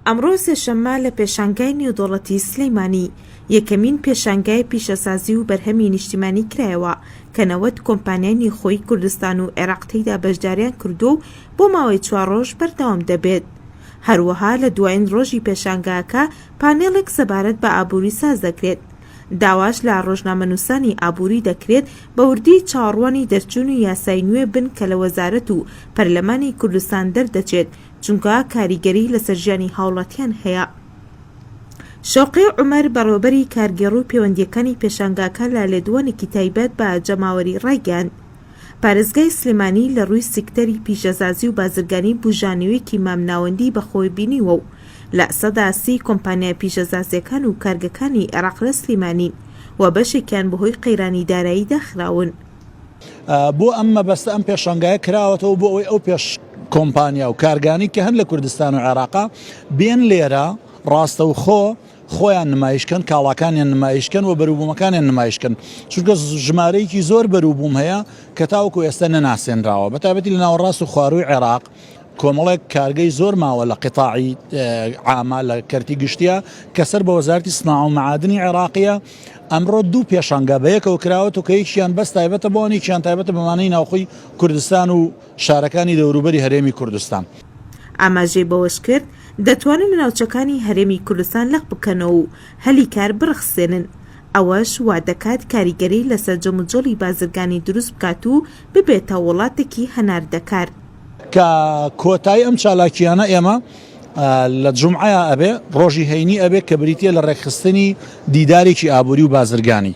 ئەمڕۆ سێشەممە لە پێشانگای نێودەوڵەتی سلێمانی یەکەمین پێشانگای پیشەسازی و بەرهەمی نیشتیمانی کرایەوە کە نەوەد کۆمپانیای نێوخۆی کوردستان و عێراق تێیدا بەشداریان کردووە و بۆ ماوەی چوار ڕۆژ بەردەوام دەبێت. هەروەها لە دوایین ڕۆژی پێشانگاکە پانێڵێک سەبارەت بە ئابووری ساز دەکرێت داواش لە ڕۆژنامەنووسانی ئابووری دەکرێت بە وردی چاوەڕوانی دەرچوونی یاسای نوێ بن کە لە وەزارەت و پەرلەمانی کوردستان دەردەچێت، چونکە کاریگەری لەسەر ژیانی هاوڵاتیان هەیە. شەوقی عومەر، بەڕێوەبەری کارگێڕو پێوەندییەکانی پێشانگاکە لە لێدوانێکی تایبەت بە جەماوەری ڕایگەیاند، پارێزگای سلێمانی لە ڕووی سیکتەری پیشەزازی و بازرگانی بوژانەوێکی مامناوەندی بە خۆی بینیوە و لە سەدا سی کۆمپانیا پیشەزازیەکان و کارگەکانی عێراق لە سلیمانین و بەشێکیان بەهۆی قەیرانی دارایی داخراون. بۆ ئەم مەبەستە ئەم پێشانگایە کراوەتەوە بۆ ئەوەی ئەو پێش کۆمپانیا و کارگانی کە هەن لە کوردستان و عێراقا بێن لێرە ڕاستەوخۆ خۆیان نمایش کەن کاڵاکانیان نمایش کەن و بەروبوومەکانیان نمایش کەن چونکە ژمارەیەکی زۆر بەروبووم هەیە کە تاوەکو ئێستا نەناسێنراوە بە تابەتی لە ناوەڕاست و خوارووی عێراق کۆمەڵێک کارگەی زۆر ماوە لە قتاعی عاما لە کەرتی گشتیا کە سەر بە وەزارتی سنا و معادنی عێراقیە ئەمڕۆ دوو پێشانگا بەیەکەوە کراوە و کە یەکیان بەس تایبەتە بۆنیان تایبەتە بەمانەی ناوخۆی کوردستان و شارەکانی دەوروبەری هەرێمی کوردستان. ئاماژەی بەوەشکرد، دەتوانن ناوچەکانی هەرێمی کوردستان لەق بکەنەوە و هەلی کار بڕەخسێنن، ئەوەش وادەکات کاریگەری لەسەر جموجۆڵی بازرگانی دروست بکات و ببێتە وڵاتێکی هەناردەکار. کە کۆتایی ئەم چالاکییانە ئێمە لە جومعەیا ئەبێ، ڕۆژی هەینی ئەبێ کە بریتییە لە ڕێکخستنی دیدارێکی ئابووری و بازرگانی.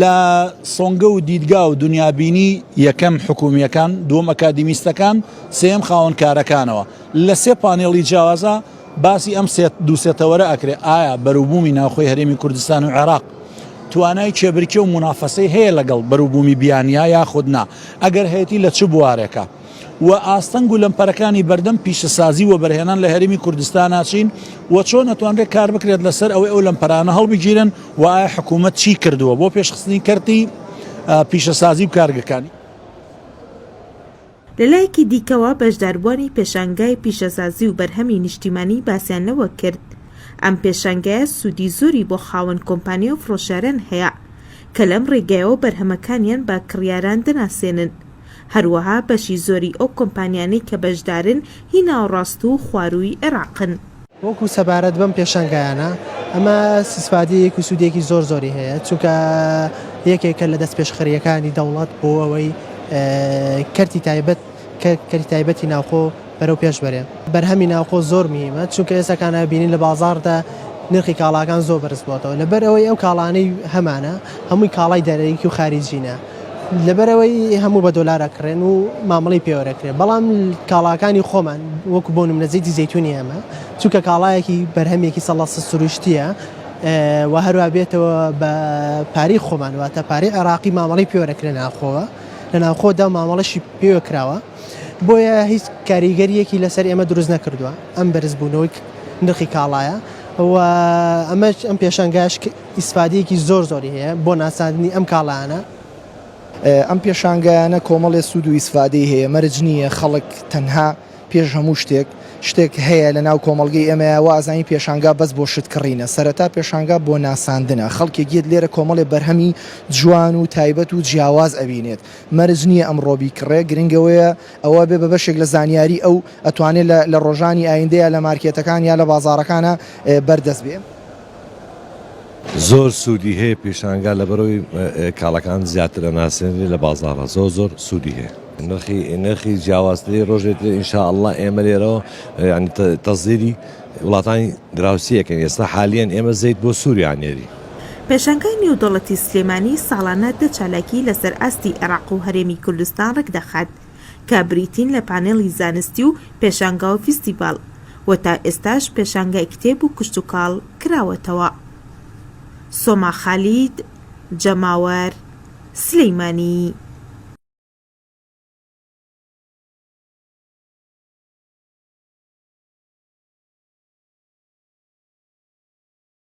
لە سۆنگە و دیدگا و دونیابینی، یەکەم، حکوومییەکان، دووەم، ئەکادیمیستەکان، سێیەم، خاوەن کارەکانەوە. لە سێ پانێڵی جیاوازا باسی ئەم سێ دوو سێ تەوەرە ئەکرێ، ئایا بەروبوومی ناوخۆی هەرێمی کوردستان و عێراق توانای کێبرکێ و مونافەسەی هەیە لەگەڵ بەروبوومی بیانییە یاخود نا؟ ئەگەر هەیەتی لە چ بوارێکا؟ و ئاستەنگ و لەمپەرەکانی بەردەم پیشەسازی وەبەرهێنان لە هەرێمی کوردستانا چین و چۆن ئەتوانرێت کار بکرێت لەسەر ئەوەی ئەو لەمپەرانە هەڵبگیرێن و ئایا حکوومەت چی کردووە بۆ پێشخستنی کەرتی پیشەسازی و کارگەکانی لەلایەکی دیکەوە، بەشداربووانی پێشانگای پیشەسازی و بەرهەمی نیشتیمانی باسیان لەوە کرد، ئەم پێشانگایە سوودی زۆری بۆ خاوەن کۆمپانیا و فرۆشیاران هەیە، کە لەم ڕێگەیەوە بەرهەمەکانیان بە کڕیاران دەناسێنن. هەروەها بەشی زۆری ئەو کۆمپانیانەی کە بەشدارن هی ناوەڕاست و خوارووی عێراقن. وەکو سەبارەت بەم پێشانگایانە ئەمە سسپادیەیەک و سوودێکی زۆر زۆری هەیە چونکە یەکێکە لە دەستپێشخەریەکانی دەوڵەت بۆ ئەوەی کەرتی تایبەت کەرتی تایبەتی ناوخۆ بەرەو پێش بەرێ بەرهەمی ناوخۆ زۆر میمە چونکە ئێستا کانە بینین لە بازاڕدا نرخی کاڵاکان زۆر بەرز بووەتەوە لەبەر ئەوەی ئەو کاڵانەی هەمانە هەمووی کاڵای دەرەکی و خاریجینە. لەبەرئەوەی هەموو بە دۆلار ئەکڕێن و مامەڵەی پێوەرەکرێت بەڵام کاڵاکانی خۆمان وەکو بۆ نمونە زەیتی زەیتونی ئێمە چونکە کاڵایەکی بەرهەمێکی سەڵە سروشتیە و هەروە بێتەوە بە پارەی خۆمان واتە پارەی عێراقی مامەڵەی پێوەرەکرێ ناوخۆوە لە ناوخۆدا مامەڵەشی پێوە کراوە بۆیە هیچ کاریگەریەکی لەسەر ئێمە دروست نەکردووە ئەم بەرزبوونەوەی نرخی کاڵایە و ئەمەش ئەم پێشنگاش ئیسفادەیەکی زۆر زۆری هەیە بۆ ناساندنی ئەم کاڵایانە. ئەم پێشانگایانە کۆمەڵێ سوود و ئیسفادەی هەیە مەرج نییە خەڵک تەنها پێش هەموو شتێک شتێک هەیە لە ناو کۆمەڵگەی ئێمەیا وا ئەزانین پێشانگا بەس بۆ شت کڕینە سەرەتا پێشانگا بۆ ناساندنە خەڵکێک یەت لێرە کۆمەڵێ بەرهەمی جوان و تایبەت و جیاواز ئەبینێت مەرج نییە ئەمڕۆ بیکڕێ گرنگ ئەوەیە ئەوە بێ بە بەشێک لە زانیاری ئەو ئەتوانێ لە لە ڕۆژانی ئایندەیا لە مارکێتەکان یا لە بازاڕەکانا بەردەست بێ. زۆر سودی هەیە پیشانگا لەبەرەوەی کاڵەکان زیاتر ئەناسێنرێ لە بازاڕە زۆر زۆر سودی هەیە. نرخی نرخی جیاوازتری ڕۆژێ ترێ ئینشاءله ئێمە لێرەوە ینی تەزیری وڵاتانی دراوسیەکەن ئێستا حالیان ئێمە زەیت بۆ سووریا نێری. پێشانگای نێودەوڵەتی سلێمانی ساڵانە دە چالاکی لەسەر ئاستی عێراق و هەرێمی کوردستان ڕێکدەخات، کە بریتین لە پانێڵی زانستی و پێشانگا و فیستیڤاڵ و تا ئێستاش پێشانگای کتێب و کشتوکاڵ کراوەتەوە. سۆما خالید، جەماوەر، سلیمانی.